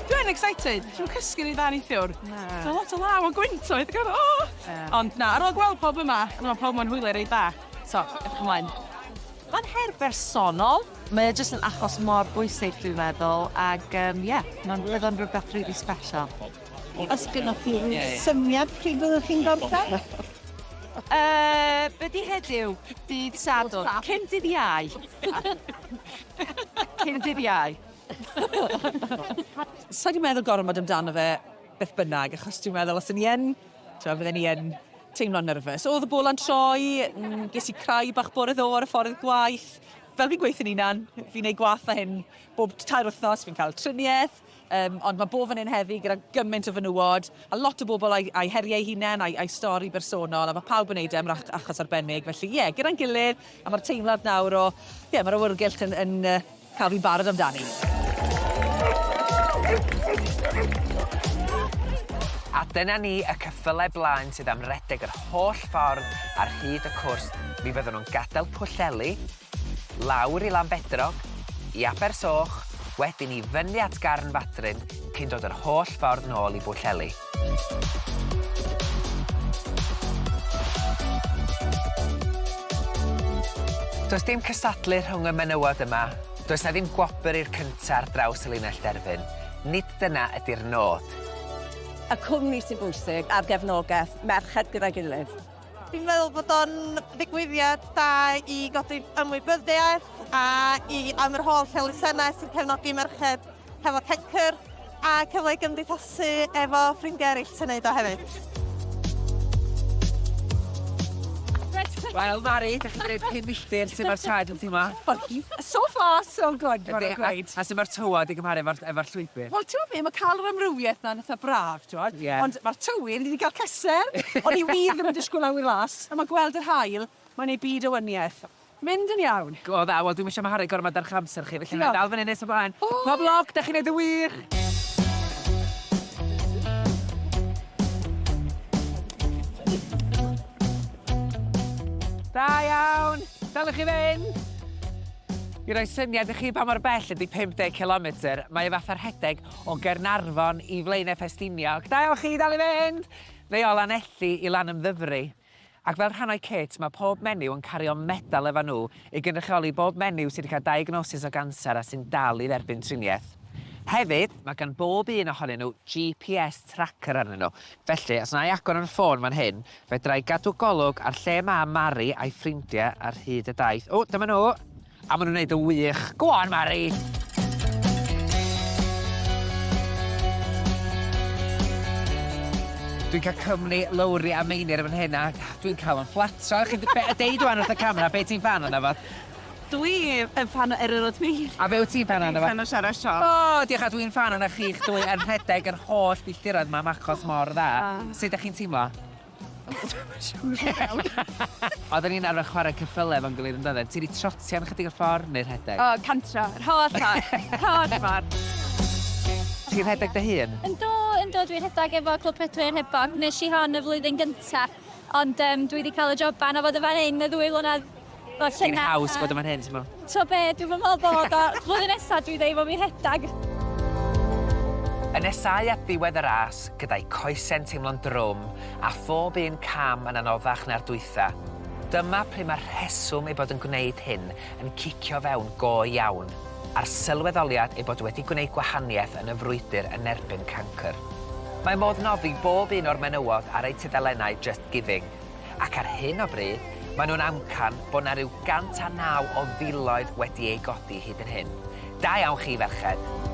Dwi'n excited. Dwi'n cysgu rhy dda neithiwr. Na. Mae lot o law a gwynt oedd gan o! Ond na, ar ôl gweld pawb yma, mae pawb yma'n hwylio reit dda. So, edrych ymlaen. Mae'n her bersonol, mae o jyst yn achos mor bwysig dwi'n meddwl, ac yym ie, mae'n bydd o'n rhywbeth rili special. Os gynnoch chi ryw Ie. syniad pryd fyddwch chi'n gorffen? Yy, be' 'di heddiw? Dydd Sadwrn. Cyn dydd Iau. Cyn dydd Iau. Sa i 'di meddwl gormod amdano fe beth bynnag, achos dwi'n meddwl os o'n i yn, t'mo', fydden i yn teimlo'n nerfus. O'dd y bola'n troi, mm, ges i crai bach bore ddo ar y ffordd gwaith. Fel fi'n gweithio'n 'unan, fi'n neud gwath na hyn bob tair wythnos, fi'n ca'l trinieth, Um, ond mae bo fan hyn heddi gyda gymaint o fenywod, a lot o bobl a'i, ai heriau hunain, a'i, ai stori bersonol, a mae pawb yn neud e am rach, achos arbennig. Felly, ie, yeah, gyda'n gilydd, a mae'r teimlad nawr o, ie, yeah, mae'r awyrgylch yn, yn uh, cael fi'n barod amdani. A dyna ni y cyffylau blaen sydd am redeg yr holl ffordd ar hyd y cwrs. Mi fyddwn nhw'n gadael Pwllheli, Lawr i Lanbedrog, i Abersoch, wedyn i fyny at Garnfadryn cyn dod yr holl ffordd nôl i Bwllheli. Does dim cystadlu rhwng y menywod yma, does 'na ddim gwobr i'r cynta' ar draws y linell derfyn, nid dyna ydi'r nod. Y cwmni sy'n bwysig a'r gefnogaeth merched gyda'i gilydd. Dwi'n meddwl bod o'n ddigwyddiad da i godi ymwybyddiaeth a i am yr holl elusennau sy'n cefnogi merched hefo cencr a cyfle i gymdeithasu efo ffrindiau eraill sy'n neud o hefyd. Wel, Mari, da chi'n gwneud pum milltir, sut mae'r traed yn teimlo? So far, so good, mae'n gweud. A sut mae'r tywod i gymharu efo'r llwybr? Wel, ti'n gwybod be, mae cael yr amrywiaeth na'n eitha braf. T'mod? Ie. Ond ma'r tywydd, ni 'di ga'l cysser! O'n i wir ddim yn disgwl awyr las, on' ma' gweld yr haul, mae'n neud byd o wanieth. Mynd yn iawn! Go dda, wel dwi'm isio maharu gormod ar 'ych amser chi, felly 'nai ddal fynny nes ymlaen. O! Pob lwc, 'dach chi'n neud yn wych! Da iawn! Dal i chi fynd! I roi syniad i chi pa mor bell ydi 50 cilometr, mae o fatha rhedeg O Gaernarfon i Flaenau Ffestiniog. Da iawn chi, dal i fynd! Fe o Lanelli i Lanymddyfri. Ac fel rhannau cit, mae pob menyw yn cario medal efo nhw i gynrychioli bob menyw sydd wedi cael diagnosis o ganser a sy'n dal i dderbyn triniaeth. Hefyd, mae gan bob un ohonyn nhw GPS tracker arnyn nhw, felly os wna i agor yn ffôn fan hyn, fedra i gadw golwg ar lle mae Mari a'i ffrindiau ar hyd y daith. O, dyma nhw! A ma' nw'n neud yn wych. Go on Mari! Dwi'n cael cwmni Lowri a Meinir yn fan hyn a dwi'n cael yn fflatro. Chi be- yy deud ŵan wrth y camera be' ti'n ffan ono fo? Dwi yn ffan o Eryr Ots Meinir. A be' wyt ti'n ffan ono fo? Dwi'n ffan o Siarad Siop. O diolch a dwi'n ffan ono chi'ch dwy yn rhedeg yr holl filltiroedd 'ma am achos mor dda. Sut 'dach chi'n teimlo? Oedden ni'n arfer chwarae ceffylau efo'n gilydd yn doedden? Ti wedi trotio am ychydig o ffordd neu rhedeg? O, cantro. Yr holl ffordd. Yr holl ffordd. Ti'n rhedeg dy hun? Yndw, yndw, dwi'n rhedeg efo Clwb Pedwyr Hebog. Wnes i hon y flwyddyn gyntaf, ond dwi wedi cael y joban o fod yn fan hyn y ddwy flynedd Wel, Ti'n llyna- haws bod yn fan hyn, ti'n mo? T'o' be', dwi'm yn me'wl bod o. Flwyddyn nesa dwi ddim am 'i rhedag. Yn nesáu at ddiwedd y ras, gyda'i coese'n teimlo'n drwm a phob un cam yn anoddach na'r dwytha, dyma pryd mae'r rheswm ei bod yn gwneud hyn yn cicio fewn go iawn, a'r sylweddoliad ei bod wedi gwneud gwahaniaeth yn y frwydr yn erbyn cancr. Mae modd noddi bob un o'r menywod ar eu tudalennau Just Giving. ac ar hyn o bryd maen nhw'n amcan bod 'na ryw 109 o filoedd wedi eu godi hyd yn hyn. Da iawn chi ferched!